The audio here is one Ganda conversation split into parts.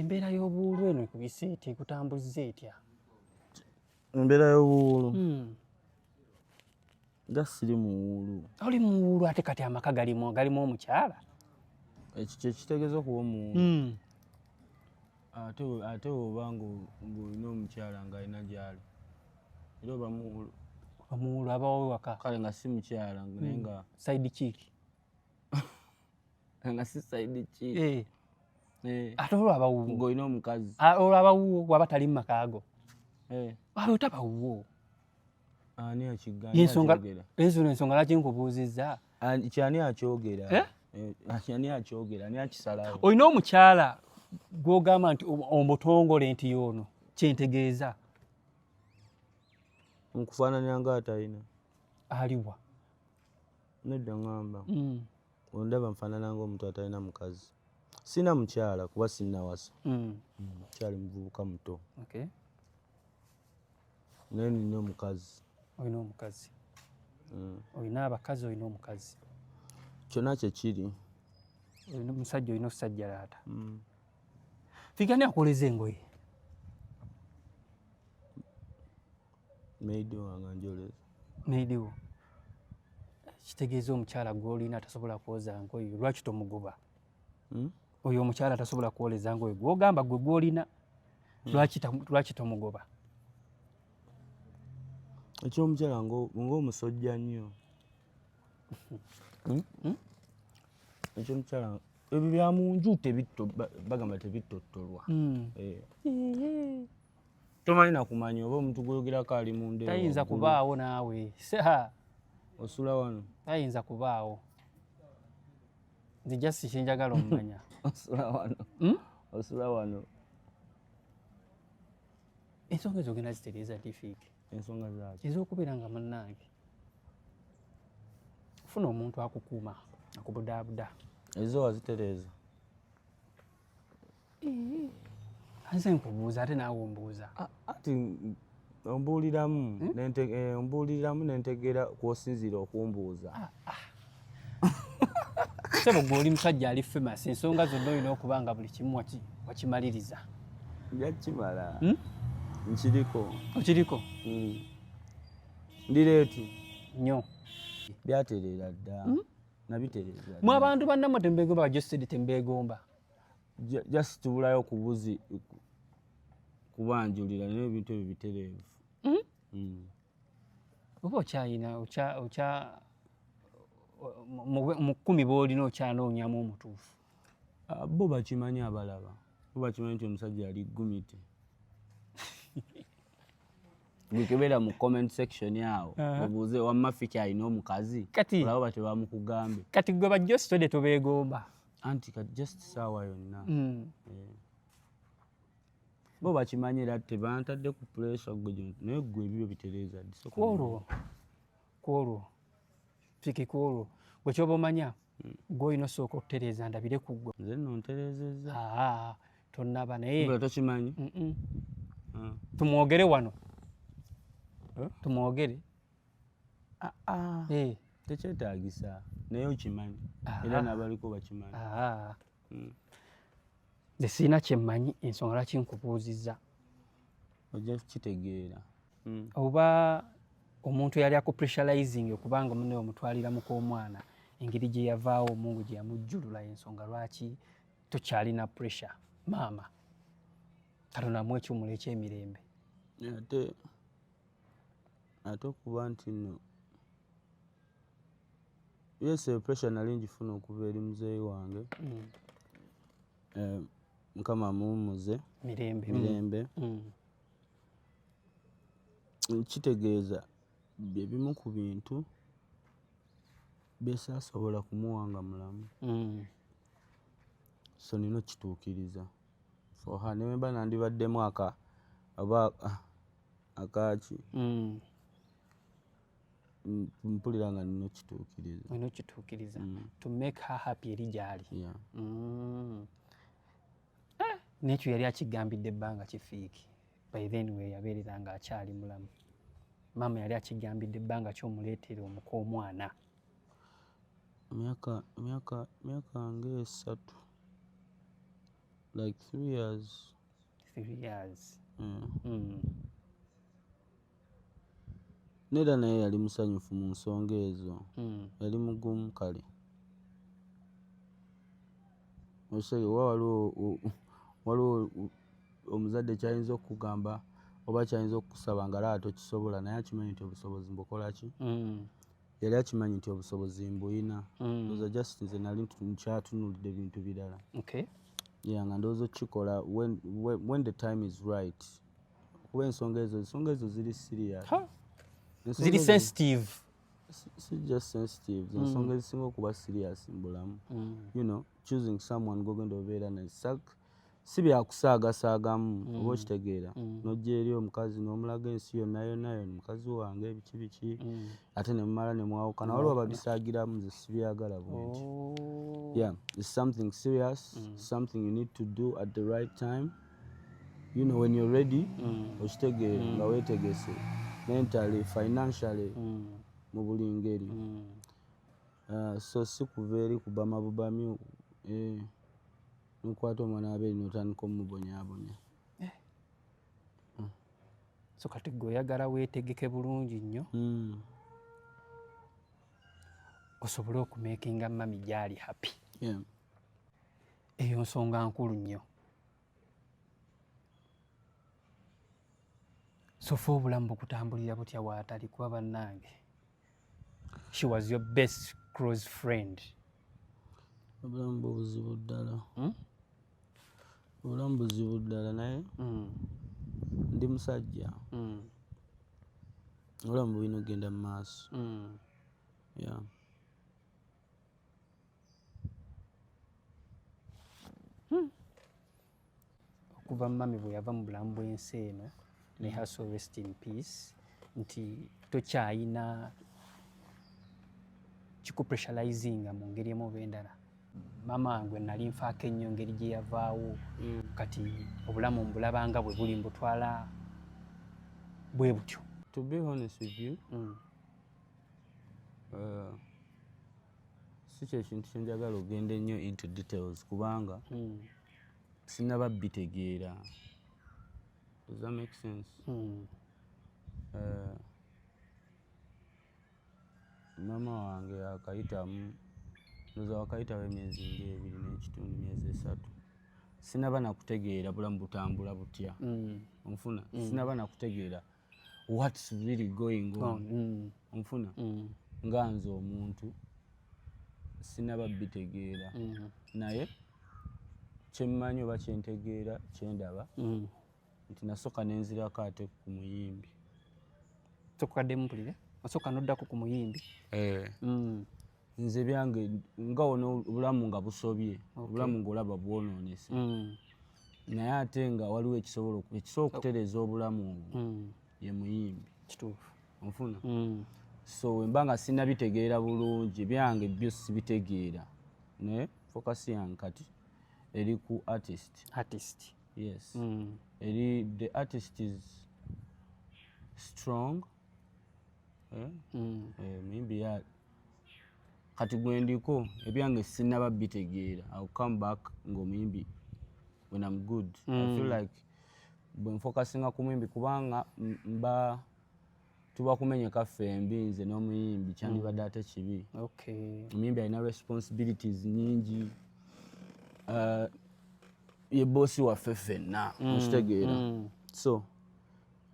embeera y'obuwuulu eno ekubise etya ekutambuzza etya embeera y'obuwuulu hmm. nga siri muwuulu oli muwuulu ate kati amaka galimu galimu omukyala ekyo kyekitegeeza okuba omuwuulu hmm. ate oba ng'olina omukyala ng'alina gyali era oba muwuulu omuwuulu abawo waka kale nga si mukyala naye hmm. nga saidi kiiki nga si saidi ki eh. eh. ate olwaba wuwo ng'olina omukazi ah, olwaba wuwo waba tali mu maka ago eh. waba otaba wuwo ani akigaensonga ensonga lwaki nkubuuzizza kyani akyogera ani akyogera ani akisalawo olina omukyala gwogamba nti omutongole nti yoono kyentegeeza nkufaananira nga atalina aliwa nedda ngamba mm. Ondaba nfaanana ng'omuntu atalina mukazi? Sirina mukyala kuba sinnawasa. Mm. Mm, mukyali muvubuka muto. Okay. Naye nina omukazi. Olina omukazi? Mm. Olina abakazi, olina omukazi? Kyonna kye kiri. Olina omusajja, olina okusajja laata. Mm. Fika ni akoleza engoye. Maid wange anjoleza. Maid wo. Kitegeeza omukyala gw'olina atasobola kwoza ngoye lwaki tomugoba? Hmm? Oyo omukyala atasobola kwoleza ngoye gw'ogamba gwe gw'olina hmm. lwaki tomugoba? Ekyomukyala ng'omusojja nnyo. Hmm? Hmm? Ekyomukyala ebyo bya mu nju bagamba tebittottolwa. Eh. tomanyi nakumanya oba omuntu gwoyogerako ali munda tayinza kubaawo naawe osula wano tayinza kubaawo nze just kyenjagala omumanya osula wano hmm? osula wano ensonga ezo ogenda zitereeza difiiki ensonga zaaki ez'okubeera nga munnaange funa omuntu akukuuma akubudaabuda ezo wazitereeza nze nkubuuza ate naawe ombuuza ati ombuuliramu hmm? eh, ombuuliramu nentegeera kwosinziira okumbuuza ah, ah. sebo gwe oli musajja ali famous ensonga zonna olina okuba nga buli kimu wakimaliriza njakimala hmm? nkiriko okiriko hmm. ndireetu nyo byatereera dda nabitereeza mu abantu bannamwe tembeegomba bajesedi tembeegomba just tubulayo kubuzi kubanjulira naye ebintu ebyo bitereevu hmm? Hmm. oba okyayina okya mu kkumi boolina okyanoonyamu omutuufu ah, bo bakimanyi abalaba bo bakimanyi nti omusajja ali gumite gwekebeera mu comment section awo obuuze wamma fiki alina omukazi olaba batebamukugambe kati gwe bajja ositode tobeegomba anti ka just saawa yonna mm. eh. bo bakimanyi era tebantadde ku puresha gwe naye gwe ebibyo bitereeza kwolwo kwolwo fiki kwolwo gwe kyoba omanya hmm. gwe olina osooka okutereeza ndabire ku gwe nze no ntereezezza tonnaba naye tokimanyi ah. tumwogere wano eh? tumwogere Eh. tekyetagisa naye okimanyi era nabaliko bakimanyi hmm. nze sirina kyemmanyi ensonga lwaki nkubuuzizza ojja kukitegeera hmm. oba omuntu yali akupressurizinga okubanga mune omutwalira mu k'omwana engeri gye yavaawo omungu gye yamujjulula ensonga lwaki tokyalina pressure maama katonamu ekyumula ekyemirembe ate ate okuba nti no yes pressure nali njifuna okuva eri muzeeyi wange mm. eh, mukama amuwumuze mirembe mirembe mm. mm. kitegeeza byebimu ku bintu byesasobola kumuwanga mulamu mm. so nina okituukiriza for her newemba nandibaddemu aka oba ah, akaaki mm. mpulira nga nina okituukiriza olina okituukiriza mm. to make her happy eri gyali yeah. mm. ah, nekyo yali akigambidde ebbanga kifiiki by then we yabeerera nga akyali mulamu maama yali akigambidde ebbanga kyomuleetera omuka omwana myaka myaka myaka ngaesatu like three years three years mm. Mm. nera naye yali musanyufu mu nsonga ezo mm. yali mugumu kale osege oba waliwo waliwo omuzadde kyayinza okukugamba oba kyayinza okukusaba nga laba tokisobola naye akimanyi nti obusobozi mbukola ki mm. yali akimanyi nti obusobozi mbuyina mm. oza just nze nali nkyatunulidde bintu birala okay. yeah, nga ndowooza okukikola when, when, when the time is right kuba ensonga ezo ensonga ezo ziri serious ziri sensitive si just sensitive mm. ensonga ezisinga okuba serious mu bulamu mm. you know choosing someone gogenda obeera naye si byakusaagasaagamu mm. oba okitegeera mm. nojja eri omukazi n'omulaga ensi yonna yonna yona mukazi wange biki biki mm. ate ne mumala ne mwawukana waliwo ababisaagiramu nze sibyagala bwenti oh. yeah it's something serious something you need to do at the right time you know when you're ready okitegeere nga weetegese mentally financially mu buli ngeri uh, so si kuva eri kubamabubamyu eh. nokwata omwana waberi notandika omubonyabonya eh. hmm. so kati gwe oyagala wetegeke bulungi nnyo hmm. osobole okumakinga mami gyali happy eyo nsonga nkulu nnyo sofa obulamu bukutambulira butya waatali kuba bannange she was your best close friend obulamu buzibu ddala hmm? obulamu buzibu ddala naye hmm. ndi musajja hmm. obulamu bulina okugenda mu maaso ya okuva mummy bwe yava mu bulamu bw'ensi eno may her soul rest in peace nti tokyayina kikupressurizinga mu ngeri emu oba endala mama gwe nali nfaako ennyo ngeri gye yavaawo mm. kati obulamu mbulabanga bwe buli mbutwala bwe butyo to be honest with you mm. uh, si kyekintu kyenjagala ogenda ennyo into details kubanga mm. sinaba bitegeera does that make sense mm. uh, mama wange akayitamu ndoza wakayitawo emyezi ngaebiri n'ekitundu myezi esatu sinaba nakutegeera bulamu butambula butya mm. onfuna mm. sinaba nakutegeera what's really going on mm. mm. onfuna mm. nga nze omuntu sinaba bitegeera mm. naye kyemmanyi oba kyentegeera kyendaba mm. nti nasooka nenzirako ate ku muyimbi sokukaddemu mpulire osooka noddako ku muyimbi eh. mm. nze byange nga ono obulamu nga busobye obulamu ngaolaba bwononese mm. naye ate nga waliwo ekisobola ekisobola okutereeza obulamu obwo mm. ye muyimbi kituufu onfuna mm. so wemba nga sinabitegeera bulungi byange byo sibitegeera naye focus yange kati eri ku artist artist yes eri the artist is strong eh? eh, muyimbi kati gwendiko ebyange sinaba bitegeera ill come back ngaomuyimbi when am good mm. i feel mm. like bwenfokasinga ku muyimbi kubanga mba tuba kumenyeka ffe embi nze n'omuyimbi kyandibadde mm. ate kibi omuyimbi alina responsibilities nyingi uh, ye boosi waffe ffenna mm. okitegeera so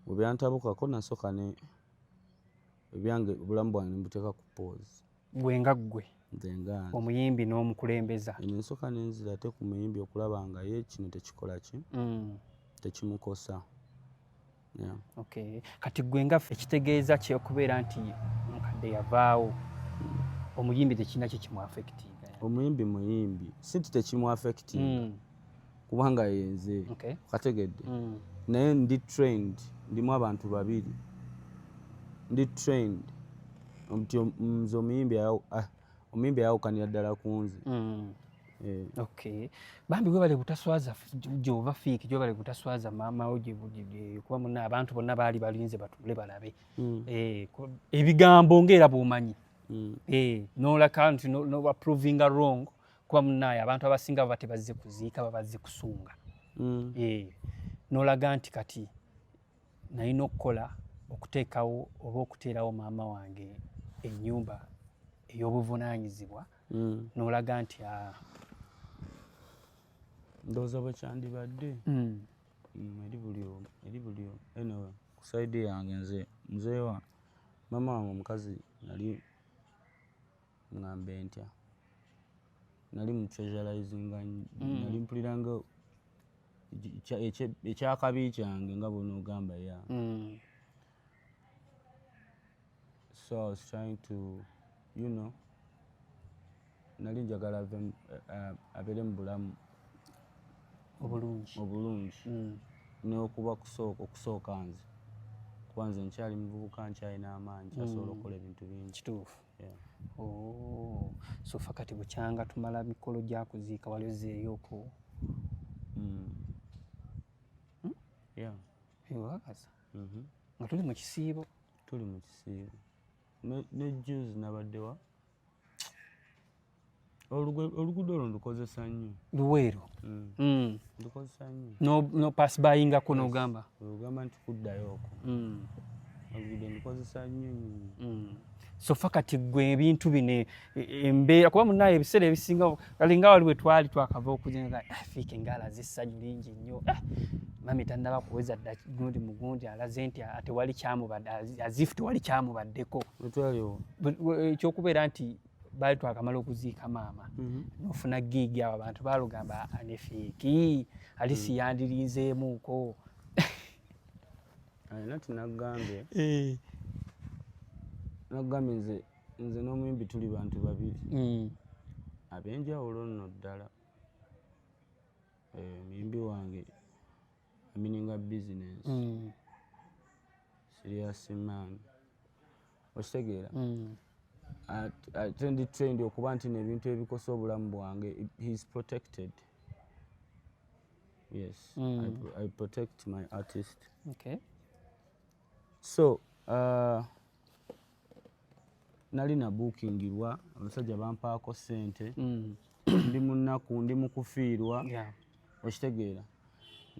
webyantabukako nasooka ne ebyange obulamu bwange nemubuteeka ku pause gwe nga ggwe omuyimbi n'omukulembeza eno ensooka nenzira ate ku muyimbi okulaba nga ye kino tekikola ki mm. tekimukosa kati gwe nga ekitegeeza kyokubeera nti mukadde yavaawo mm. omuyimbi tekirina kye kimuafectinga omuyimbi muyimbi si nti tekimuafectinga mm. kubanga yenze okay. kategedde mm. naye ndi trained ndimu abantu babiri ndi trained nti nze omuyimbi ah, omuyimbi ayawukanira ddala ku nze mm. eh. okay bambi webale butaswaza gyova fiiki gyobale butaswaza maamawo kuba muna abantu bonna baali balinze batule balabe mm. eh, ebigambo ngaera bwomanyi mm. eh, nolaka nti nobaprovinga wrong kuba munaye abantu abasinga baba tebazze kuziika babazze kusunga mm. eh, nolaga nti kati nalina okukola okuteekawo oba okuteerawo maama wange enyumba ey'obuvunaanyizibwa mm. nolaga nti ah. ndowooza bwe kyandibadde mm. eri buli omu eri buli omu anyway ku saidi yange nze muzeewa maama wange omukazi nali ngambe ntya nali mu treasurizinga mm. nali mpuliranga ekyakabi kyange nga bwonaogamba ya mm. so i was trying to you know nali njagala eh, abeere mu bulamu obulungi obulungi mm. nokuba kusooka okusooka nze kuba nze nkyali muvubuka nkyalina amaanyi kyasobola okukola ebintu bingi kituufu Oh, so fa kati bukyanga tumala mikolo gya kuziika wali ozzeeyo oku mm. hmm? ewakasa mm-hmm. nga tuli mu kisiibo tuli mu kisiibo ne juzi nabaddewa oluguudo olwo ndukozesa nnyo luweero mm. mm. ndukozesa nnyo nopasibayingako nogamba ogamba nti kuddayo oko mm. oluguudo ndukozesa nnyo sofa kati gwe ebintu bino e, e, embeera kuba munaye ebiseera ebisinga alinga wali wetwali twakava okujenga ah, fiika engala zessanyu lingi nnyo ah, mami tannaba kuweza dda gundi mugundi alaze nti atewali kyamubadde azifu tewali kyamubaddeko ekyokubeera nti baali twakamala okuziika maama mhm. nofuna giigi abo abantu balugamba anefeeki ali mhm. siyandirinzeemuuko alina tinagambye eh. nagambye nze nze n'omuyimbi tuli bantu babiri mm. ab'enjawulo nno ddala eh, omuyimbi wange I mean nga business mm. serious man okitegeera mm. ate ndi trained okuba nti nebintu ebikosa obulamu bwange heis protected yes mm. I, hmm. i protect my artist okay so uh, nali nabuukingirwa abasajja bampaako ssente mm. ndi munaku ndi mukufiirwa okitegeera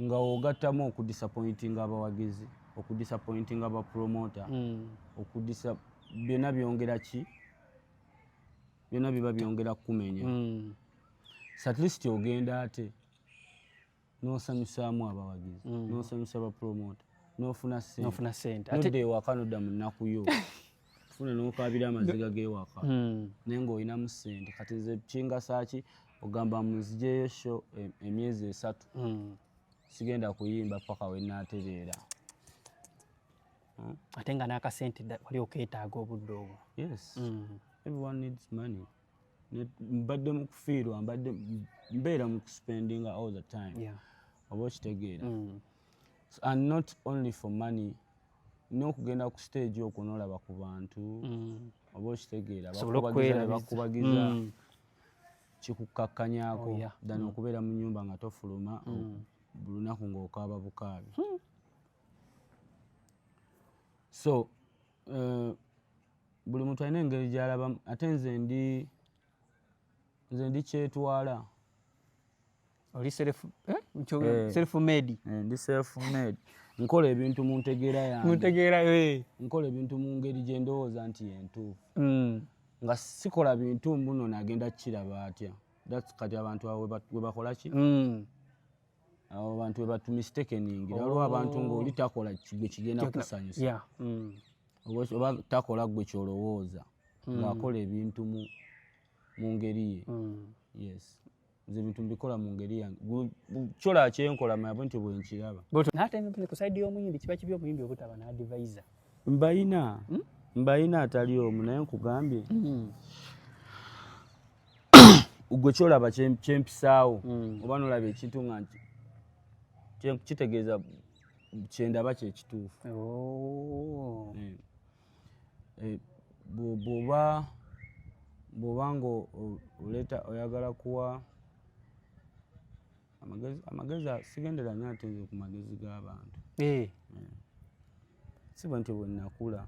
nga ogattamu okudisapointinga abawagizi okudisapointinga abapromota mm. okudisa byonna byongera ki byonna biba byongera kukumenya mm. satleast ogenda ate n'osanyusaamu abawagizi mm. n'osanyusa bapromota n'ofuna sentenofuna sente nodda ewaka nodda mu nnaku yo funa n'okaabira amaziga g'ewaka mm. naye ng'olinamu sente kati nze kingasaki ogamba munzijeyo sho e, emyezi esatu mm. sigenda kuyimba paka wenaatereera ate nga n'akasente wali okeetaaga obudde obwo yes everyone needs money mbadde mu kufiirwa mbadde mbeera mu kuspendinga all the time yeah. oba okitegeera mm. and not only for money n'okugenda ku stage okwo nolaba ku bantu mm. oba okitegeera bakubagiza mm. kikukkakkanyako oh, than mm. okubeera mu nyumba nga tofuluma mm. buli lunaku ng'okaaba bukaabi hmm. so uh, buli muntu alina engeri gyalaba ate nze ndi nze ndi kyetwala oli self eh? eh. self made eh, ndi self made nkola ebintu mu ntegeera yange mu ntegeera yo eh. nkola ebintu mu ngeri gye ndowooza nti yentuufu mm. nga sikola bintu mbuno nagenda kukiraba atya kati abantu awo webakola ki mm. abo bantu webatu mistakeningira waliwo oh. abantu ngaoli takola gwe kigenda kusanyusa mm. oba takola gwe kyolowooza mm. ngaakola ebintu mu ngeri ye mm. yes nze ebintu mbikola mu ngeri yange kyola kyenkola mabo nti bwenkiraba natenkusaidi yomuyimbi kiba kibi omuyimbi obutaba naadivaiza mbayina hmm? mbayina atali omu naye nkugambye hmm. gwe kyolaba kyempisaawo mm. oba nolaba ekintu nga nti kitegeeza kyendaba kyekituufu oh. eh, eh, bwoba bwoba nga oleeta oyagala kuwa amagezi amagezi sigendera nyo ate nze ku magezi g'abantu eh. eh. si bwe nti bwenakula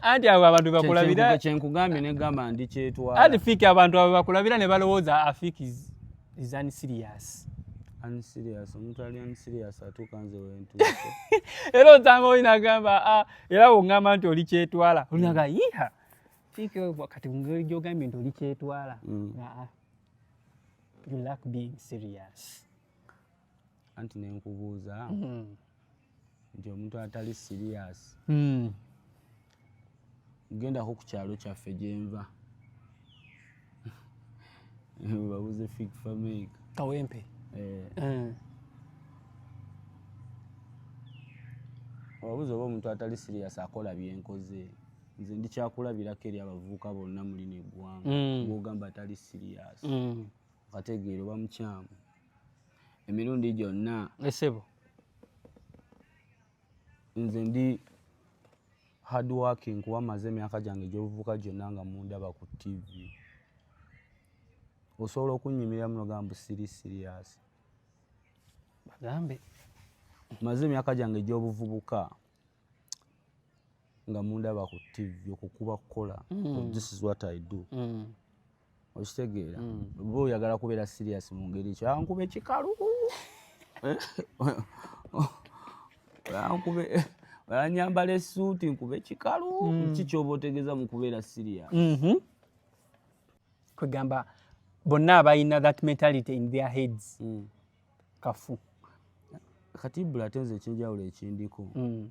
anti abo abantu bakulabira kyenkugambye negamba ndi kyetwala anti fiki abantu abo bakulabira ne balowooza afiki is unserious unserious omuntu ali unserious atuuka nze wentuuse era otanga oli nagamba ah, era wongamba nti oli kyetwala olinaga yiha fiki kati mungeri gyogambye nti oli kyetwala mm. ah, ah. you lack being serious anti nenkubuuza hmm. nti omuntu atali serious hmm. gendako ku kyalo kyaffe gyenva babuze fig famik kawempe eh. hmm. obabuza oba omuntu atali serious akola byenkoze nze ndi kyakulabirako eri abavubuka bonna muli neggwanga mm. gwogamba atali siriyasi mm. okategeera oba mukyamu emirundi gyonna esebo nze ndi hard working kuba maze emyaka gyange egyobuvubuka gyonna nga mundaba ku tivi osobola okunyumira muno gambu siri siriyasi bagambe maze emyaka gyange egyobuvubuka nga mundaba ku tv okukuba kukola mm. this is what i do mm. okitegeera mm. oba oyagala kubeera serious mu ngeri ekyo ankube kikalu eh? ankube anyambala esuuti nkube kikalu mm. ki kyoba otegeeza mu kubeera serious mm-hmm. kwegamba bonna abalina that mentality in their heads mm. kafu kati bula ate nze ekyenjawulo ekindiko mm.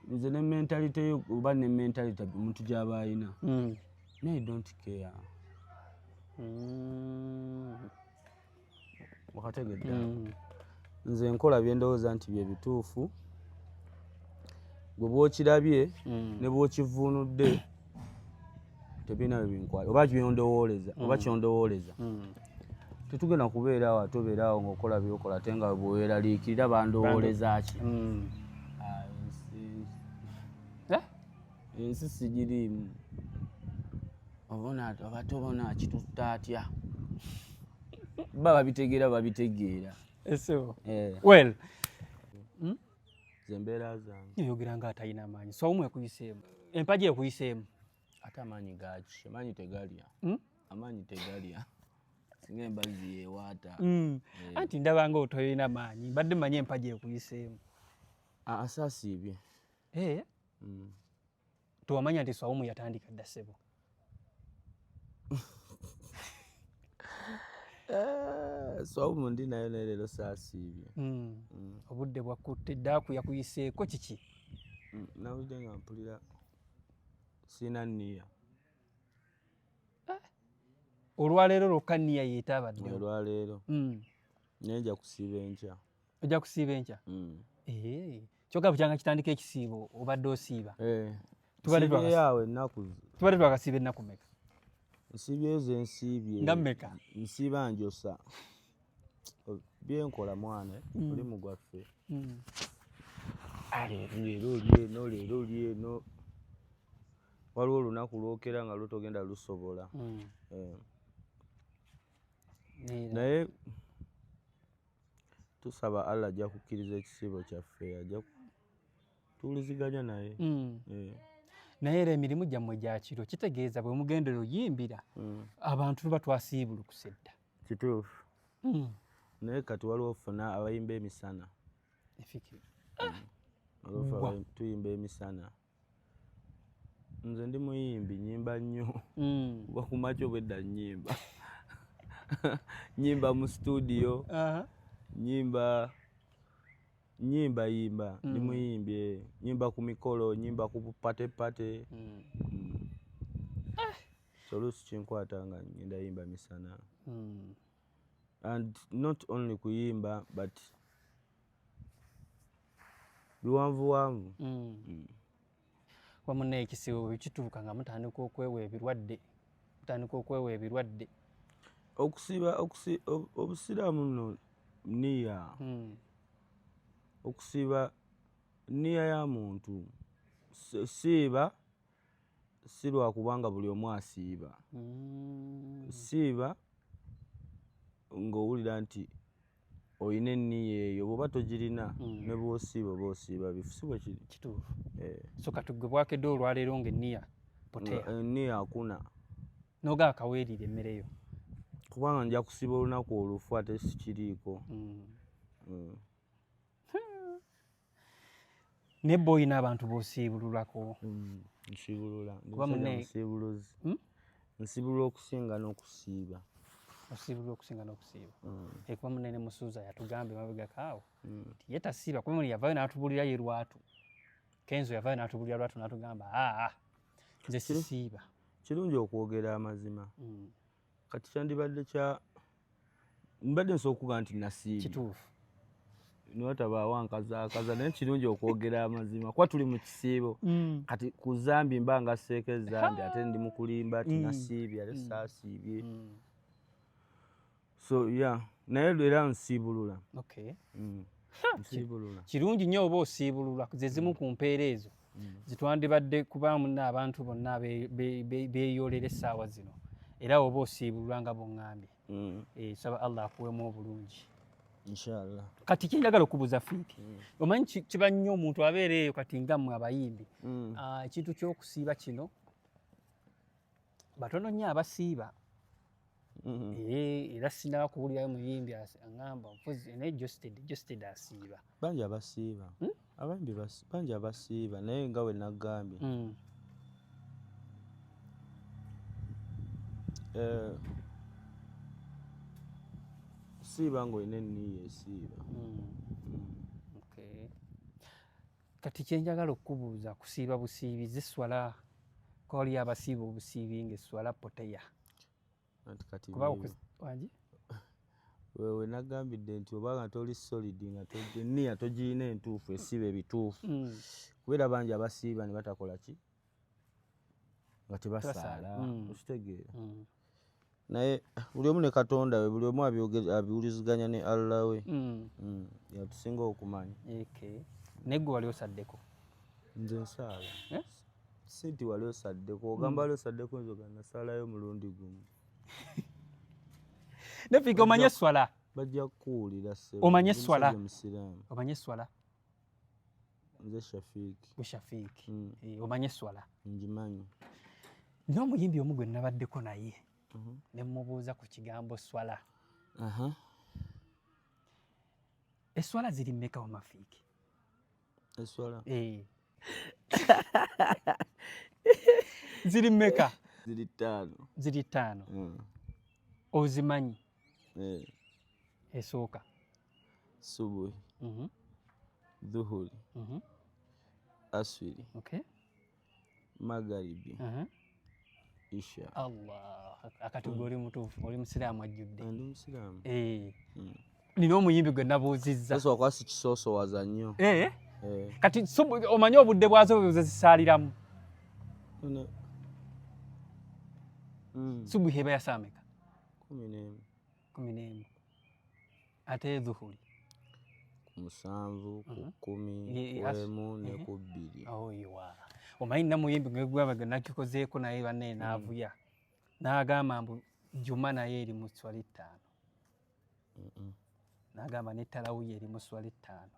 nze ne mentalite yo oba ne mentalite omuntu gyaba alina hmm. naye dont care hmm. wakategedde hmm. nze nkola byendowooza nti bye bituufu gwe bwokirabye ne bwokivuunudde tebirina we binkwata oba kyondowooleza oba hmm. kyondowooleza hmm. tetugenda kubeera awo ate obeera awo ngaokola byokola ate nga bweweraliikirira bandowooleza ki hmm. ah, eh? ensi sigiriimu obate obona kitutta atya baba babitegeera babitegeera eh. well hmm? zembeera zange oyogera nga atalina amaanyi sawumu ekuyiseemu empagi ekuyiseemu ate amaanyi gaaki amaanyi tegalya hmm? amaanyi tegalya singa embazi yewaata hmm. eh. anti ndaba nga otoyina maanyi mbadde manyi empagi ekuyiseemu asasiibye eh? hmm. Tewamanya nti Swaumu yatandika dda ssebo. Eh, Swaumu ndi nayo naye leero saasiibye. Hmm. Hmm. Obudde bwakkutte ddaaku yakuyiseeko kiki? Hmm, nawulidde nga mpulira sirina nniya. Eh. Olwaleero lwokka nniya yeetaabadde. Olwaleero. Naye nja kusiiba enkya. ojja kusiiba enkya mm. eh, kyoka bukyanga kitandika ekisiibo obadde osiiba eh, tubadde twakasiiba ennaku meka nsiibyeyo ze nsiibye nga meka nsiiba njosa byenkola mwana mm. olimu gwaffe mm. ah, leero olyeno leero olyeno waliwo olunaku lwokera nga lutogenda lusobola eh. naye tusaba Allah ajja kukkiriza ekisiibo kyaffe ajja tuwuliziganya naye mm. eh. naye era emirimu gyammwe gya kiro kitegeeza bwe mugendera oyimbira mm. abantu tuba twasiibulukuse dda kituufu mm. naye kati waliwo ofuna abayimba emisana tuyimba emisana nze ndi muyimbi nyimba nnyo mm. kuba ku makya obwedda nyimba nyimba mu situdiyo nyimba nyimba yimba mm. ndi muyimbi eh. nyimba ku mikolo nyimba ku pate pate mm. so oluusi kinkwata nga ngenda yimba misana and not only kuyimba but biwanvuwanvu mm. mm. wamuna ekisibo bwekituuka nga mutandika okwewa ebirwadde mutandika okwewa ebirwadde okusiba obusiraamu no niya mm. okusiba niya ya muntu siiba si lwakuba nga buli omu asiiba mm. siiba ng'owulira nti olina enniya eyo bwoba togirina mm. ne bwosiiba oba osiiba bifu si bwe kiri kituufu eh. so katugwe bwakedde olwaleero nga enniya potea enniya eh, akuna noga akaweerira emmere yo kubanga nja kusiba olunaku olufu ate sikiriiko mm. mm. naye bba olina abantu bosiibululako mm, nsiibulula musiibuluzi hmm? nsiibulula okusinga n'okusiiba osiibulula okusinga n'okusiiba mm. ekuba munene musuuza yatugamba emabegakaawo mm. nti ye tasiiba kuba muli yavayo n'atubulira ye lwatu kenzo yavayo n'atubulira lwatu n'atugamba aa nze sisiiba kirungi okwogera amazima kati kyandibadde kya mbadde nsobola okuba nti nasiibi kituufu niwatabaawo ankazaakaza naye kirungi okwogera amazima kuba tuli mu kisiibo mm. kati ku zambi mba nga seeko ezambi ate ndi mukulimba ti mm. nasiibye ate mm. saasiibye so ya yeah. naye era nsiibulula okay. mm. kirungi nnyo oba osiibulula zezimu ku mpeera ezo mm. zitwandibadde kubaamu naabantu bonna beeyolera essaawa zino era oba osiibulwa nga bongambye mm. eh, saba allah akuwemu obulungi inshallah kati kyenjagala okubuuza fiiti mm. omanyi kiba nnyo omuntu abeera eyo kati nga mmwe abayimbi ah, ekintu kyokusiiba kino batono nnyo abasiiba mm-hmm. eh, era sinaba kuwulirayo muyimbi aŋamba mpozi naye josted josted asiiba bangi abasiiba hmm? abambi bangi abasiiba naye nga we nagambye hmm. eh, siiba ngaolina enniiyo esiiba hmm. kati kyenjagala okukubuuza kusiiba busiibi ziswala koli abasiiba obusiibi nga eswala poteya wangi wewe nagambidde nti oba nga toli solid nga niya togirina entuufu esiba ebituufu mm. kubeera bangi abasiiba ne batakola ki nga tebasaala mm. okitegeera mm. naye buli omu ne katonda we buli omu abiwuliziganya ne allah we mm. mm. yatusinga okumanya okay. naye gwe wali osaddeko nze nsaala eh? si nti wali osaddeko ogamba mm. wali osaddeko nze ogana saalayo omulundi gumu nefika omanye eswala bajja kukuwulira omanye eswala omanye eswala nze shafiki mushafiki mm. e, eh, omanye eswala ngimanyi n'omuyimbi omu gwe nabaddeko naye mm -hmm. ne mubuuza ku kigambo swala uh -huh. eswala ziri mmeka wamafiiki eswala e. ziri mmeka ziri ttaano ziri ttaano mm. ozimanyi eh. esooka subuhi mm -hmm. dhuhuri mm -hmm. aswiri okay. magaribi uh -huh. isha allah akati mm. oli mutuufu oli musiraamu ajjudde ndi musiraamu eh. mm. nina omuyimbi gwe nabuuzizza sasa wakwasi kisoosowaza nnyo eh? eh. kati omanyi obudde bwazo bwezezisaaliramu mm. subuhi eba yasaameka kumi n'emu kumi n'emu ate edhuhuli ku musanvu ku mhm. kkumi kuemu ne ku bbiri oyiwa omanyi namuyimbi ngegwabaga nakikozeeko naye bane mm. naavuya n'agamba mbu juma naye eri mu swala ettaano n'agamba ne talawuya eri mu swala ettaano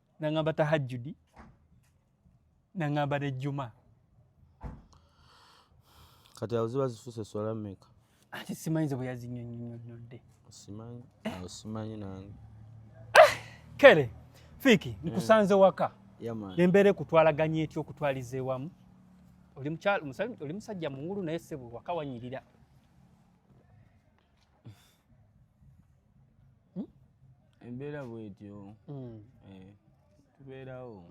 nangamba tahajjudi nangamba nejjuma kati awo ziba zifuuse eswala mmeka ati simanyi ze bwe yazinyonyonyodde simanyi awo simanyi nange kere fiiki eh. nkusanze waka nembeera ekutwalaganya etya okutwaliza ewamu oli musajja mungulu naye sebo waka wanyirira hmm? embeera bwetyo hmm. eh, tubeerawo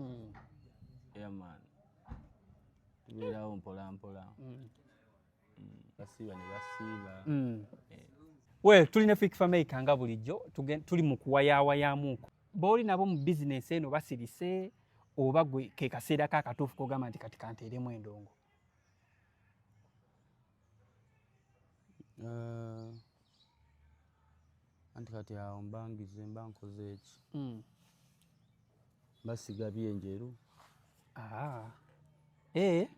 airman tubeerawo mpolampola basiiba ne basiiba eh. we tulina fik fameica nga bulijjo tuli mu kuwayaawayamuuko booli nabo mu bizinesi eno basirise oba gwe kekaseera kakatuufu kogamba nti kati kanteeremu endongo Eh, anti kati awo mbangize mba nkoze eki hmm. basiga byenjeru ah. eh.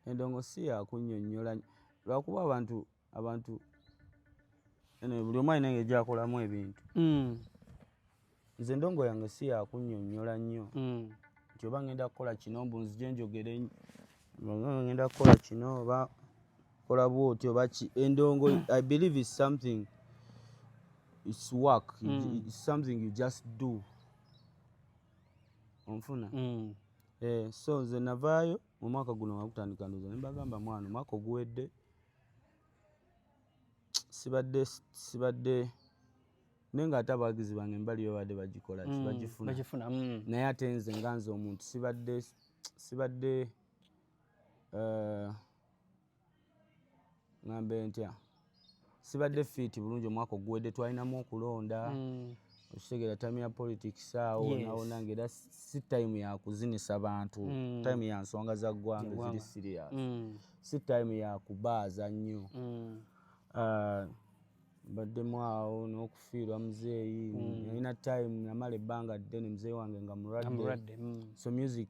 endongo si yakunyonyola lwakuba abantu abantu buli omu alina nga ejakolamu ebintu hmm. nze endongo yange si yakunyonyola nnyo hmm. nti oba ngenda kukola kino mbu nzije njogere ngenda kukola kino oba kola bwoti oba ki endongo i believe is something its work hmm. its something you just do onfuna hmm. eh, so nze navaayo mu mwaka guno wakutandika ndoza nembagamba mwana omwaka oguwedde sibadde sibadde naye ng'ate abawagizi bange embali babadde bagikola ki mm, bagifuna bagifuna mm. naye ate nze nga nze omuntu sibadde sibadde eh, ŋambe ntya sibadde fiiti bulungi omwaka oguwedde twalinamu okulonda mm. okitegeera time ya politics awo nawona nga era si time yakuzinisa bantu mm. time ya nsonga za ggwanga eziri serious mm. si time yakubaaza nnyo mm. uh, mbaddemu awo n'okufiirwa muzeeyi mm. yalina time namala ebbanga ddene muzeeyi wange nga mulwadde mm. so music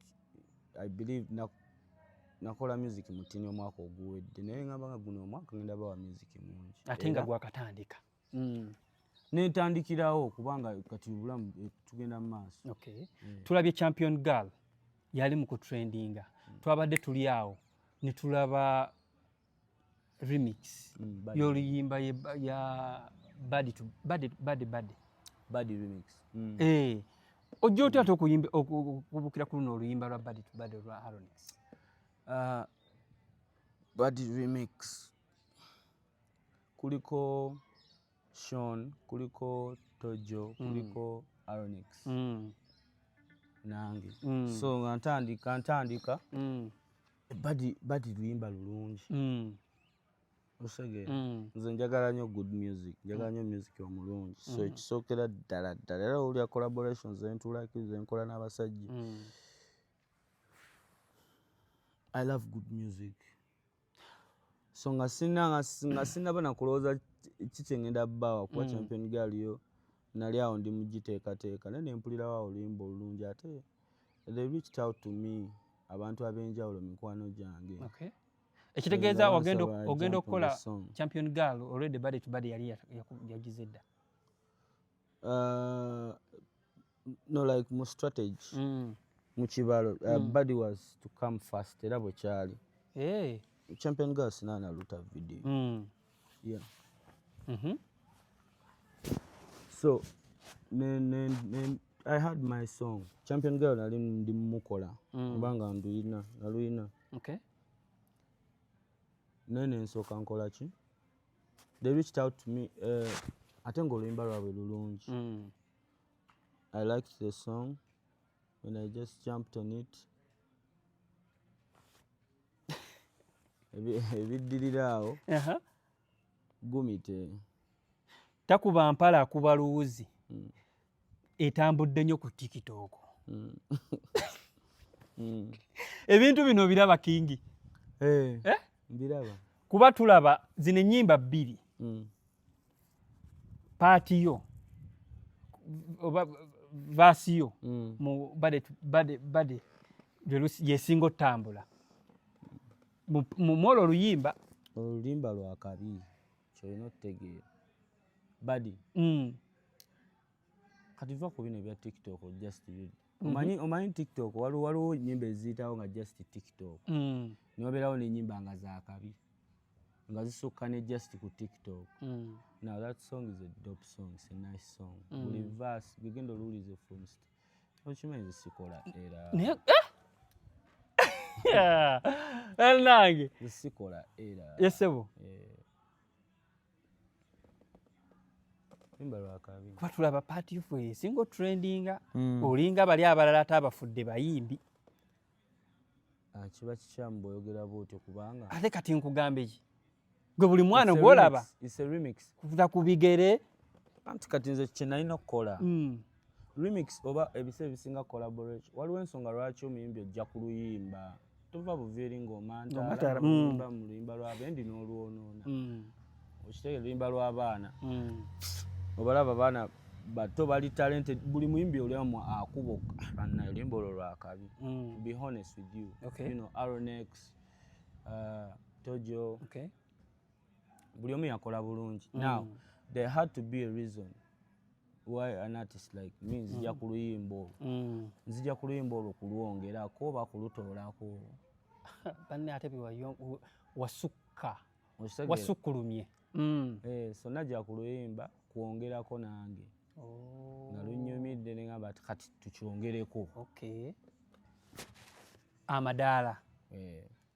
i believe nakola music mutini omwaka oguwedde naye ngamba nga guno omwaka ngenda bawa music mungi ate nga gwakatandika mm. netandikirawo kubanga kati obulamu eh, tugenda mu maaso okay. mm. tulabye champion girl yali mu kutrendinga mm. twabadde tuli awo netulaba remix mm, yoluyimba ya bad to bad bad bad bad remix mm. eh ojja otya ate okuyimba okubukira ku luno oluyimba lwa bad to bad lwa Aronix uh, ah, bad remix kuliko Sean kuliko Tojo mm. kuliko mm. Aronix mm. nange mm. so nga ntandika ntandika mm. badi badi luyimba lulungi mm. osege mm. nze njagala nyo good music njagala mm. nyo music omulungi so mm. ekisookera ddala ddala era olya collaboration zentulaki zenkola n'abasajja mm. i love good music so nga sina nga sinaba nakulowooza kiki ngenda bawa kuba mm. champion gaaliyo nali awo ndi mugiteekateeka naye nempulirawo oluyimba olulungi ate mm. they reached out to me abantu ab'enjawulo mikwano gyange ekitegeeza ogenda okukola champion girl already body to body yali yagize dda uh, no like mu strategy mm. mu kibalo uh, mm. body was to come first era bwe kyali eh. champion girl sinaana luta video mm. yeah. mm -hmm. so ne, ne, ne, i had my song champion girl nali ndi mukola mm. oba nga nduyina naluyina okay. naye nensoka nkola ki they reached out to me uh, ate nga oluyimba lwabwe lulungi mm. i liked the song when i just jumped on it ebiddirira awo gumite takuba mpala akuba luwuzi hmm. etambudde nnyo ku tikitooko hmm. hmm. ebintu bino biraba kingi eh, eh? kuba tulaba zino ennyimba bbiri paati yo oba vaasi yo mm. mu bade bade bade yesinga otambula mumwola oluyimba oluyimba lwakabi kyolina otegeera badi mm. kati va ku bino ebya tiktok just mhm. omanyi mm -hmm. omanyi tiktok waliwo waliwo nyimba eziyitawo nga just tiktok mm. niwabeerawo nenyimba nga zakabi nga zisukka ne just ku tiktok mm. now that song is a dope song is a nice song mm. buli verse gugenda oluwulize from st okimanyi zisikola era eh? nange zisikola era yesebo yeah. kuba tulaba paati yofu esinga otrendinga hmm. olinga bali abalala ate abafudde bayimbi ah, kiba kikyamu bwoyogera bwotyo kubanga ate kati nkugambe ki gwe buli mwana ogwolaba kuta ku bigere anti kati nze kyenalina okukola hmm. remix oba ebisa ebisinga collaboration waliwo ensonga lwaki omuyimbi ojja ku luyimba tova buviiri ng'omantaamuyimba mm. mu luyimba lwabendi n'olwonoona mm. okitege luyimba lw'abaana mm. obalaba abaana bato bali talente buli muyimbi oliamu akuba okana oluyimba olwo lwakabi be honest with you you know aronex uh, tojo buli omu yakola bulungi now there had to be a reason why an artist like me nzija mm. ku luyimba olwo mm. nzija ku luyimba olwo kulwongerako oba kulutoolako banne ate wasukka wasukkulumye mm. eh, so najja ku luyimba kwongerako nange oh. nga lunyumidde nengamba ti kati tukyongereko amadaala eh.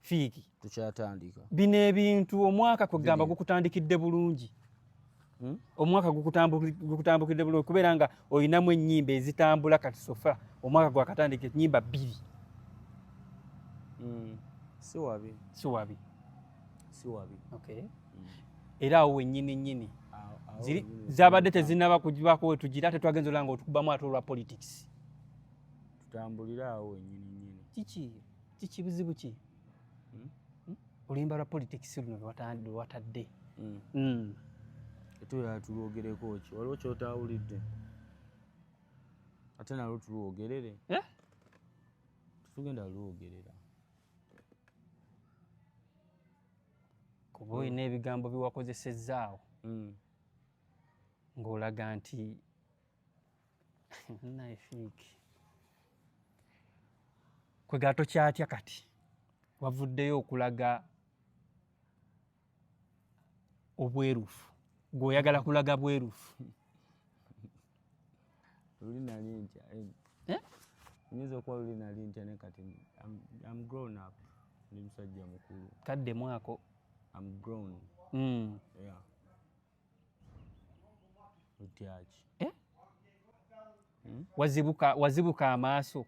fiiki tukyatandika bino ebintu omwaka kwegamba gukutandikidde bulungi hmm? omwaka gukutambukidde bulungi kubeera nga olinamu ennyimba ezitambula kati sofa omwaka gwakatandika ennyimba bbiri hmm. siwabi siwabi siwabi okay hmm. era awo wennyini nnyini zabadde tezinaba kugibako wetugira ate twagenza olanga otukubamu ate olwa politics tutambulire awo wennyini nnyini kiki kiki buzibu ki hmm? Hmm? oluyimba lwa politics luno lwewatadde hmm. etulala tulwogereko ki waliwo kyotawulidde ate nalwo tulwogerere eh? tetugenda lwogerera kuba olina ebigambo biwakozesezaawo ng'olaga nti kwegala tokyatya kati wavuddeyo okulaga obwerufu gweoyagala kulaga bwerufu luli nali ntya eh? Eh? nyinza okuba luli nali ntya ne kati am grown up ndi musajja mukulu kadde mwako am grown mm. yeah. Eh? Hmm? wazibuka wazibuka amaaso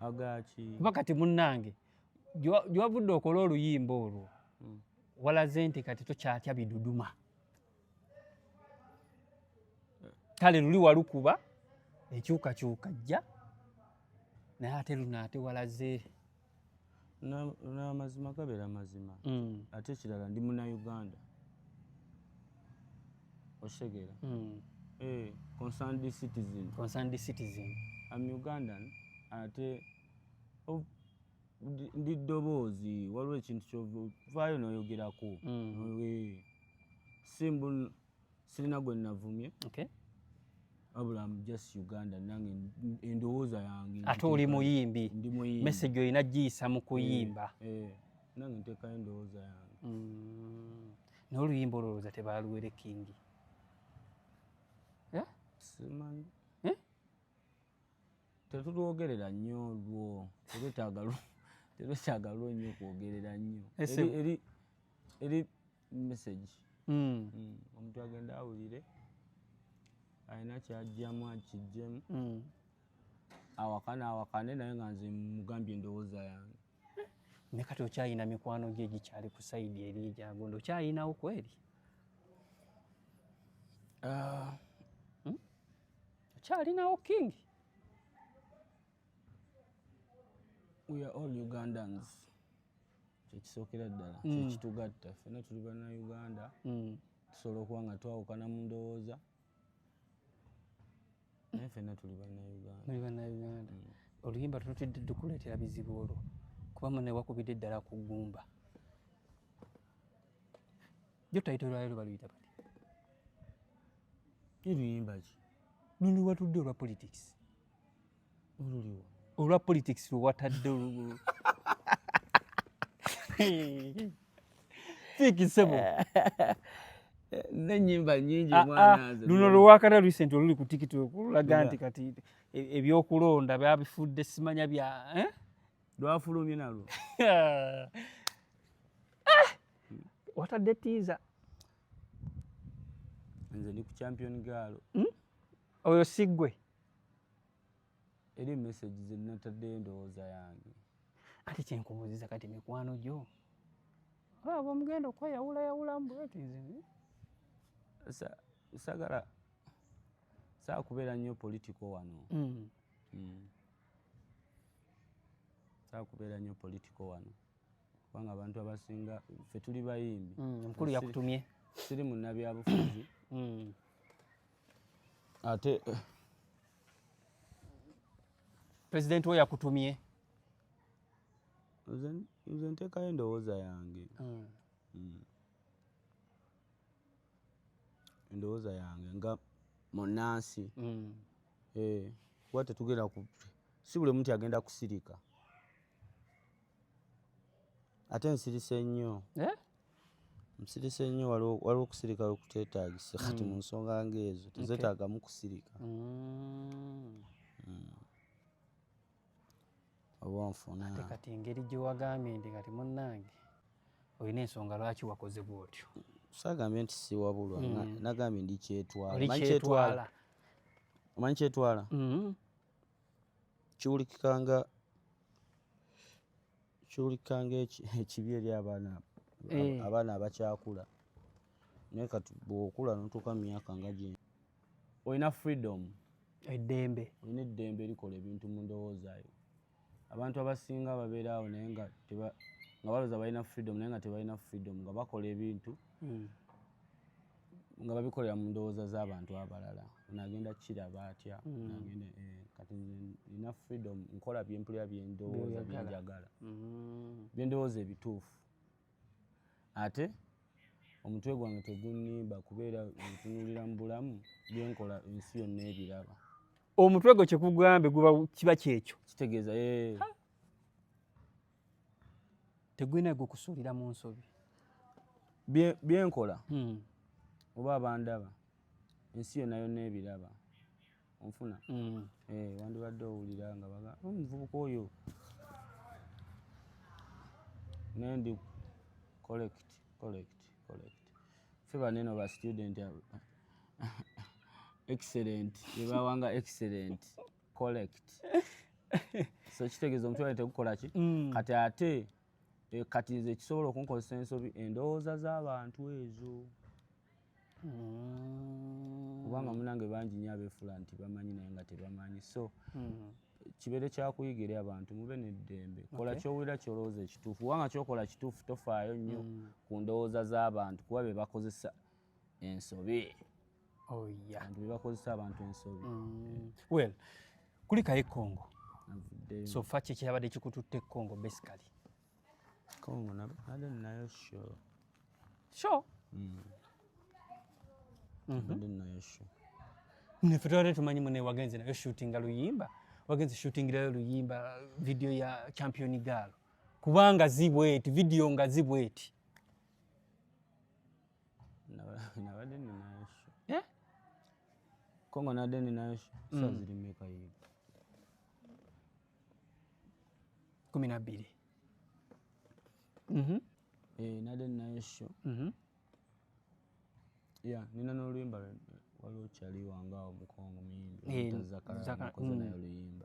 agaki kuba kati munnange gyewavudde okola oluyimba olwo hmm. walaze nti kati tokyatya biduduma kale luli walukuba ekyukakyuka jja naye ate luno ate walaze namazima gabera mazima mm. ate ekirala ndi muna uganda oshegera mm. eh, concerned citizen concerned citizen am ugandan ate oh, ndi ddoboozi waliwo ekintu kyovaayo noyogerako mm. simbu sirina gwe navumye okay. abula am just uganda nange endowooza yange ate oli muyimbi message olina giyisa mu kuyimba eh, eh, nange ntekayo endowooza yange mm. naye oluyimba olowooza tebaluwere kingi eh? simanyi tetulwogerera nnyo lwo tetwetaaga lwo nnyo kwogerera nnyo eri message mm. mm. omuntu agenda awulire alina kyajjamu akijjemu mm. awakane awakane naye nga nze mugambye endowooza yange ne kati okyayina mikwano gye gikyali ku saidi eri egyagondo okyayinawo kweri ah. hmm? okyalinawo king we are all ugandans kyekisookera ddala mm. kyekitugatta ffena tuli bana uganda mm. tusobola okuba nga twawukana mu ndowooza naye ffena tuli bana uganda mm. oluyimba tunotidde dukuleetera bizibu olwo kuba mune wakubidde eddala ku ggumba jo tayito lwayo lubaluyita bati luyimba ki luli watudde olwa politics olwa politics lwewatadde olugulu fikisebo nenyimba nyingi ah, mwana ah, luno lwewakata recent oluli ku tiktok olulaga nti kati e, ebyokulonda byabifudde simanya bya eh? lwafulumye nalwo ah! watadde tiiza nze ndi ku champion gaalo hmm? oyo siggwe Eri message ze nataddeyo endowooza yange. Ate kyenkubuuziza kati mikwano gyo abo ah, mugenda okweyawula yawula mbweti nze sagala saakubeera nnyo politiko wano mm. Mm. saakubeera nnyo politiko wano kubanga abantu abasinga fe tuli bayimbi mm, omukulu yakutumye siri munabyabufuzi ate eh, president wo yakutumye nze nteekayo endowooza yange hmm. Hmm. endowooza yange nga munansi hmm. eh, kuba tetugenda ku si buli omuntu agenda kusirika ate nsirise nnyo eh? Nsirise nnyo waliwo okusirika we kuteetaagisa kati mu nsonga ng'ezo tezeetaagamu kusirika. oba onfuna ate kati engeri gye wagambye nti kati munnange olina ensonga lwaki wakoze bw'otyo. Saagambye nti siwabulwa nagambye ndi kyetwala. Omanyi kyetwala? Kiwulikika nga kyulikanga ekibi eri abaana eh. abaana abakyakula naye kati bwokula notuuka mu myaka nga gye olina freedom eddembe olina eddembe erikola ebintu mu ndowoozayo abantu abasinga babeera awo naye nga nga baloza balina freedom naye nga tebalina freedom nga bakola ebintu hmm. nga babikolera mu ndowooza z'abantu abalala onagenda kiraba atya hmm. nagenda eh, kati nina freedom nkola byempulira byendowooza byenjagala hmm. byendowooza ebituufu ate omutwe gwange tegunimba kubeera ntunulira mu bulamu byenkola ensi yonna ebiraba omutwe gwe kyekugambe guba kiba kyekyo kitegeeza eh. tegulina gukusuulira mu nsobi byenkola hmm. oba abandaba ensi yona yona ebiraba onfuna hmm. eh, wandibadde owulira nga baga oh, omuvubuka oyo naye ndi collect collect collect fe baneno ba student excellent ebawanga excellent collect so kitegeeza omutwale tegukola ki mm. kati ate eh, kati nze kisobola okunkozesa ensobi endowooza z'abantu ezo mm. kubanga munange bangi nyo abeefula nti bamanyi naye nga tebamanyi so mm. kibeere kyakuyiga eri abantu mube neddembe kola kyowulira kyolowooza ekituufu kubanga kyokola kituufu tofaayo nnyo ku ndowooza z'abantu kuba be bakozesa ensobi oh, bebakozesa abantu ensobi mm. well kulikayo ekongo so fa kyekyabadde kikututte ekongo basically kongo nayo sure sure mm. mhm. nayo sure nefe twali tumanyi mune wagenze nayo shootinga luyimba wagenze shootingirayo luyimba video ya champion gaalo kubanga zibweti video nga zibweti nabadde ninayo sho eh? ko nga nabadde ninayo sho mm. sa ziri meka yiyo kumi na bbiri mhm. eh, nabadde ninayo sho mhm. ya nina n'oluyimba waliwo kyali wangaawo mukongo muyimbi eh, zakara nakoze mm. nayo oluyimba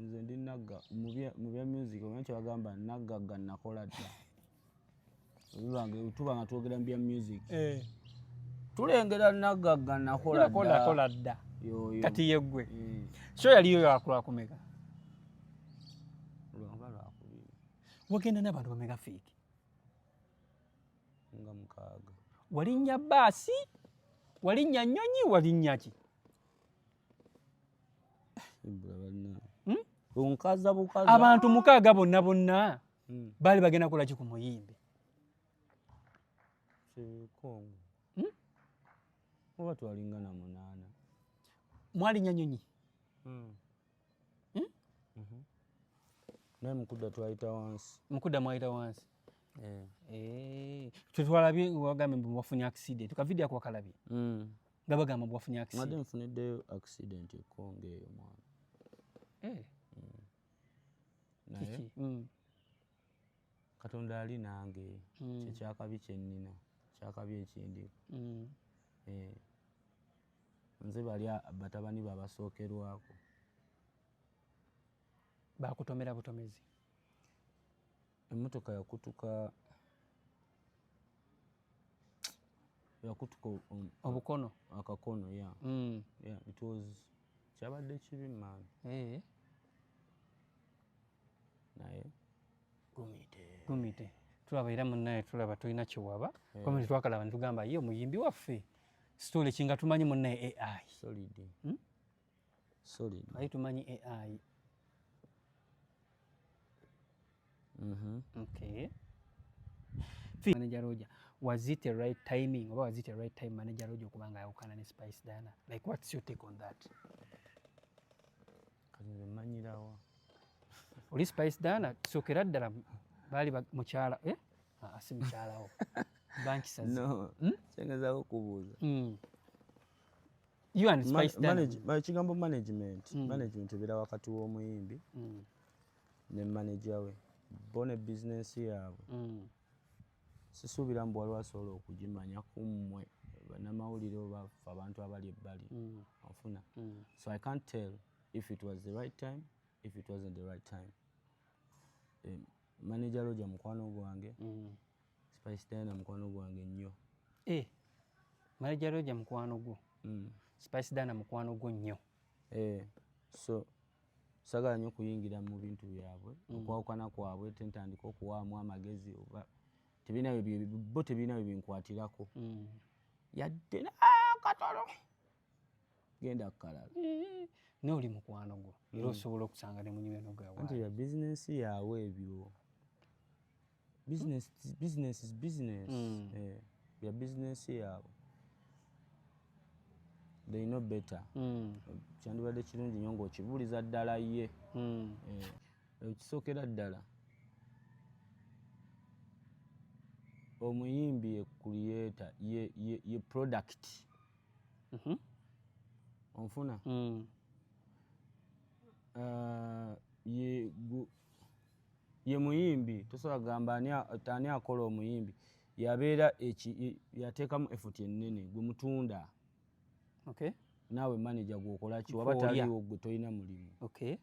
nze ndi nagga mu bya music omanyi kyebagamba naggagga nakola dda bibange tuba nga twogera mu bya music eh. tulengera naggagga nakola dda kati yeggwe eh. so yaliyo yakulakumeka wagenda n'abantu bameka fiiki nga mukaaga walinnya baasi walinnya nnyonyi walinnya ki hmm? abantu mukaaga bonna bonna hmm. baali bagenda kolaki ku muyimbi hmm? oba twalingana munaana mwalinya nyonyi naye mukudda twayita wansi mukudda mwayita wansi eh. eh. twetwalabye wagambye mbu wafunye accident kavidiyo ako wakalabye mm. nga bagamba mbu wafunye akisimadde nfuniddeyo accident ekonga eyo mwana eh. mm. naye mm. katonda ali nange mm. kyekyakabi kyennina kyakabi ekindi eh. nze bali batabani babasookerwako bakutomera butomezi Emmotoka yakutuka yakutuka um, obukono akakono ya mm. yeah, it was kyabadde kibi man hey. Eh. naye gumite gumite tulaba era munnaye tulaba tulina kiwaba hey. Eh. komenti twakalaba nitugamba ye omuyimbi waffe sitole kinga tumanyi munnaye ai solid hmm? sorry ai tumanyi ai mhm okay manager roja was it a right timing oba was it a right time manager roja okubanga ayawukana ne spice dana like what's your take on that kati nze manyirawo oli spice dana sokera ddala baali mukyala eh? ah, ah, si mukyalawo bankisazi hmm? kyengezaako okubuuza hmm. you and spice man, manage, man, ekigambo management mm. management ebeera wakati w'omuyimbi mm. ne manager we bo ne business yaabwe mm. sisuubira mbu waliwo asobola okugimanya ku mmwe banamawulire oba fe abantu abali ebbali mm. ofuna mm. so i can't tell if it was the right time if it wasn't the right time um, manager loja mukwano gwange mm. Spice Diana mukwano gwange nnyo. Eh. Manager Roger mukwano gwo. Mm. Spice Diana mukwano gwo nnyo. Eh. So sagala nnyo kuyingira mu bintu byabwe mm. okwawukana kwabwe tentandika okuwaamu amagezi oba tebirina bo tebirina bye binkwatirako mm. yadde nakatono ah, genda kukalala naye oli mukwano gwo era osobola okusanga ne munyweno gawanti ya bizinensi yaabwe ebyo bizinensi bizinensi mm. eh, ya bizinensi yaabwe they know better mm. kyandibadde kirungi nyo ngaokibuuliza ddala ye mm. eh, ekisookera ddala omuyimbi ye kuliyeta ye product Mhm. onfuna Mm. Ah, ye gu- ye muyimbi tosobola kugamba ani a- ani akola omuyimbi yabeera eki- i- yateekamu efuti ennene gwe mutunda Okay. naawe maneja gwokolaki waba Gw'olya. taliwo gwe tolina mulimu Okay.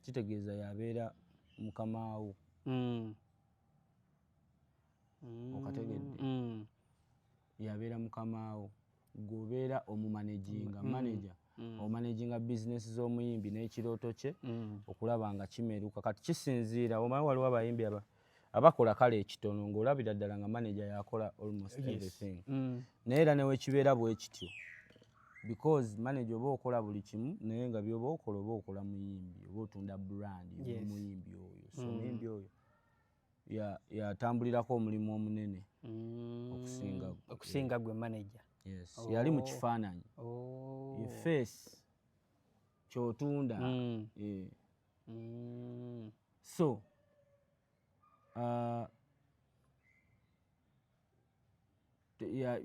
kitegeeza yabeera mukamaawo Mm. Mm. okategedde Mm. yabeera mukamaawo gwobeera omumanaginga mm. manager mm. omanaginga bizinesi z'omuyimbi n'ekirooto kye mm. okulaba nga kimeruka kati kisinziira omanyi waliwo abayimbi aba abakola kale ekitono ng'olabira ddala nga manager yakola almost everything naye era newekibeera bwekityo because manager oba okola buli kimu naye nga byoba okola oba okola muyimbi oba otunda brand omuyimbi oyo so muyimbi oyo yatambulirako omulimu omunene mm. okusinga gwe manaja oh. yali mu kifaananyi oh. face kyotunda mm. eh. mm. so uh,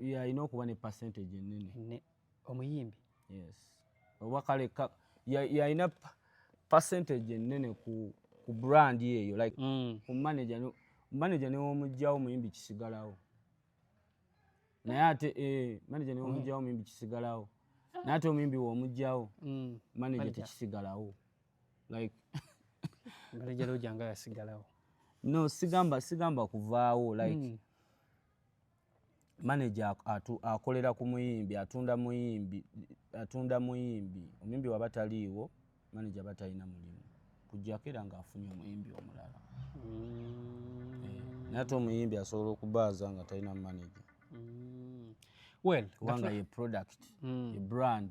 yalina okuba ne percentage enene omuyimbi yes oba kale yalina percentage enene ku, ku brand eyo like mm. ku manager no, manager newomugjawo omuyimbi kisigalawo naye ate eh, manager newomugjawo mm. omuyimbi kisigalawo naye ate omuyimbi womugjawo mm. manager tekisigalawo like ngalejalo janga yasigalawo no sigamba sigamba kuvaawo like mm. manager atu akolera ku muyimbi atunda muyimbi atunda muyimbi omuyimbi waba taliiwo manager batalina mulimu kujjako era ng'afunye omuyimbi omulala mm. eh, naye ate omuyimbi asobola okubaaza nga talina manager mm. well kubanga ye product mm. ye brand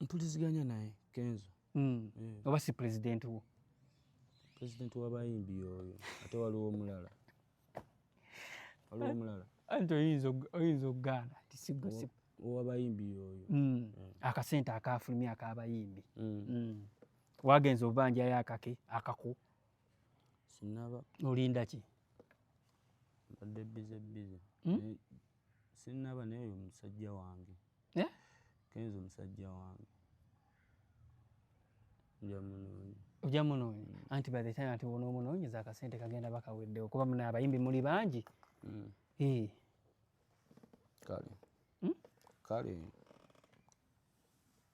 mpuliziganya naye kenzo mm. yeah. oba si president wo president wabayimbi oyo ate waliwo omulala waliwo omulala anti oyinza okugaana ti sigosip owabayimbi oyo mm. yeah. akasente akafulumya akabayimbi mm. mm. wagenza obubanjayo akake akako sinaba olindaki mbadde bize bize hmm? Sinnaba naye oyo musajja wange. Eh? Kenzo musajja wange. Nja munoonya. Oja munoonya. Mm. Anti by the time anti wono munoonya za kasente kagenda bakawedde okuba muna abayimbi muli bangi. Mm. Eh. Kale. Mm? Kale.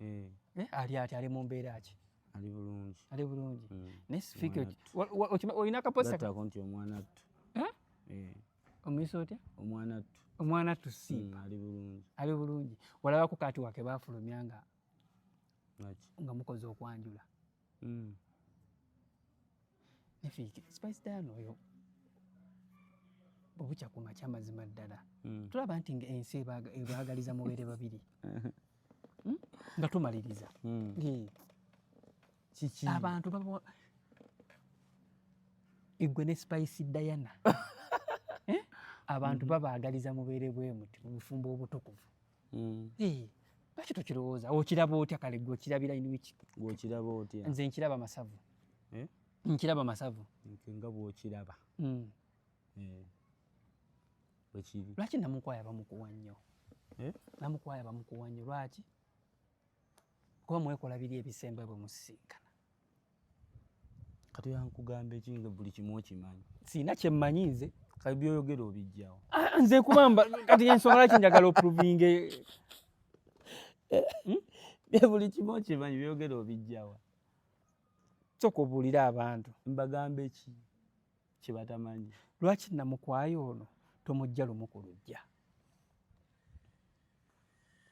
Eh. Eh, ali ati ali mu mbeera ki ali bulungi ali bulungi hmm. naye sifiika olina akaposako nti omwana ttu eh? omuyisa otya omwana ttu omwana ttu simba hmm, ali bulungi ali bulungi walabako kati wake bafulumya nga nga mukoze okwanjula Mm. Nefiki, Spice Diana oyo bubukya ku makya mazima ddala mm. tulaba nti nga ensi ebaagaliza mubeere babiri hmm? nga tumaliriza mm. eh. kiki abantu baba igwe ne Spice Diana eh? abantu mm-hmm. babaagaliza mubeere bwemuti mu bufumbo obutukuvu mm. hey, lwaki tokirowooza okiraba otya kale gwe okirabira inwiki gweokiraba otya nze nkiraba masavu eh? nkiraba masavu nga bwokiraba mm. eh. wekiri lwaki namukwaya bamukuwa nnyo eh? namukwaya bamukuwa nnyo lwaki kuba mwekola biri ebisemba bwe musisinkana kati yankugamba eki nga buli kimu okimanyi siina kyemmanyi nze kati byoyogera obijjawo ah, nze kubamba kati ensonga laki njagala oprovinge hmm? buli kimu okimanyi byoyogera obijjawa soka obuulire abantu mbagamba eki kyebatamanyi lwaki namukwayo ono tomujja lumu ku lujja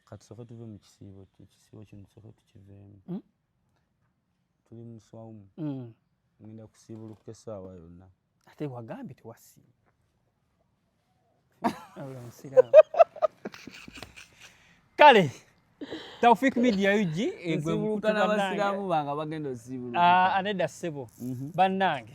katusooke tuve mu kisiibo ekisiibo kino tusooke tukiveemu hmm? tuli mu swawumu hmm. ngenda kusiibuluka essaawa yonna ate wagambye tewasiiba kale Taufik Media UG egwe mukutana abasiramu banga bagenda ozibulu. Ah, aneda sebo. Mhm. Banange.